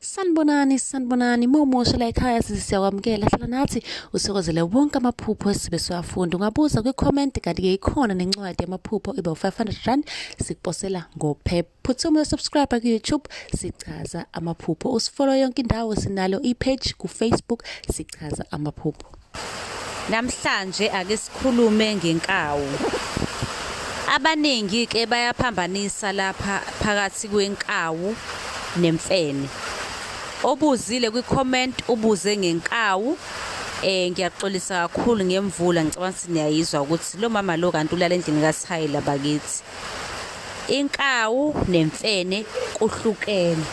Sanibonani, sanibonani, mawumusha la ekhaya size siyakwamukela hlala nathi usokozele wonke amaphupho esibe siwafunda. Ungabuza kwi-comment kanti-ke ikhona nencwadi yamaphupho iba u-500 sikuposela ngophepha. Phuthuma uyosubscribe ku-YouTube sichaza amaphupho. Usifollow yonke indawo sinalo i-page ku-Facebook sichaza amaphupho. Namhlanje ake sikhulume ngenkawu. Abaningi ke bayaphambanisa lapha phakathi kwenkawu nemfene. Obuzile kwi-comment ubuze ngenkawu eh ngiyaxolisa kakhulu ngemvula ngicabanga ukuthi niyayizwa ukuthi lo mama lo kanti ulala endlini kaShayela bakithi. Inkawu nemfene kuhlukene.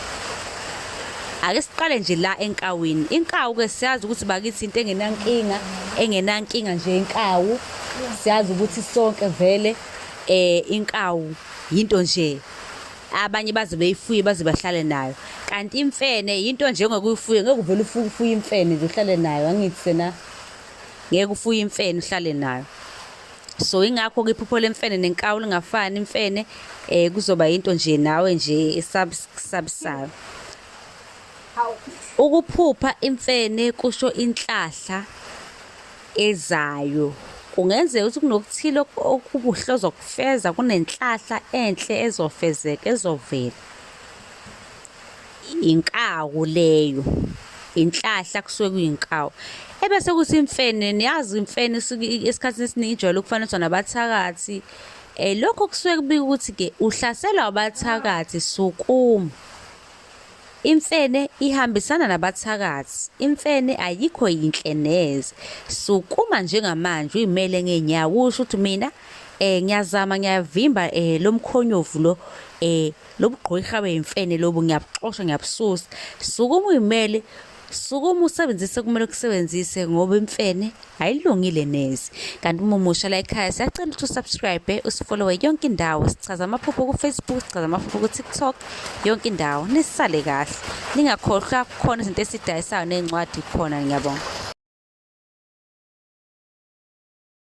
Ake siqale nje la enkawini. Inkawu ke siyazi ukuthi bakithi into engenankinga, engenankinga nje inkawu. Siyazi ukuthi sonke vele eh inkawu yinto nje abanye baze beyifuye baze bahlale nayo kanti imfene yinto nje ongekuyifuye ngeke uvele ufuye imfene nje uhlale nayo angithi sena ngeke ufuye imfene uhlale nayo so ingakho ke iphupho lemfene nenkawu lingafani imfene eh kuzoba into nje nawe nje esabsabisayo ukuphupha imfene kusho inhlahla ezayo kungenzeka ukuthi kunokuthile okubuhle ozokufeza kunenhlahla enhle ezofezeka ezovela inkawu leyo inhlahla kusuke kuyinkawu ebese kuthi imfene niyazi imfene esikhathini esiningi ijwayele ukufaniswa nabathakathi eh lokho kusuke kubika ukuthi ke uhlaselwa abathakathi sukuma Imfene ihambisana nabathakathi. Imfene ayikho yinhle neze. Sukuma njengamanje uyimele ngeenyawo usho ukuthi mina eh ngiyazama ngiyavimba eh lomkhonyovu lo eh lobugqwirha beyimfene lobu ngiyabuxosha ngiyabususa sukuma uyimele sukuma usebenzise kumele ukusebenzise ngoba imfene ayilungile nezi kanti uma umusha la ekhaya siyacela ukuthi usubscribe usifollowe yonke indawo sichaza amaphupho kufacebook sichaza amaphupho kutiktok yonke indawo nisale kahle ningakhohlwa kukhona izinto esidayisayo ney'ncwadi khona ngiyabonga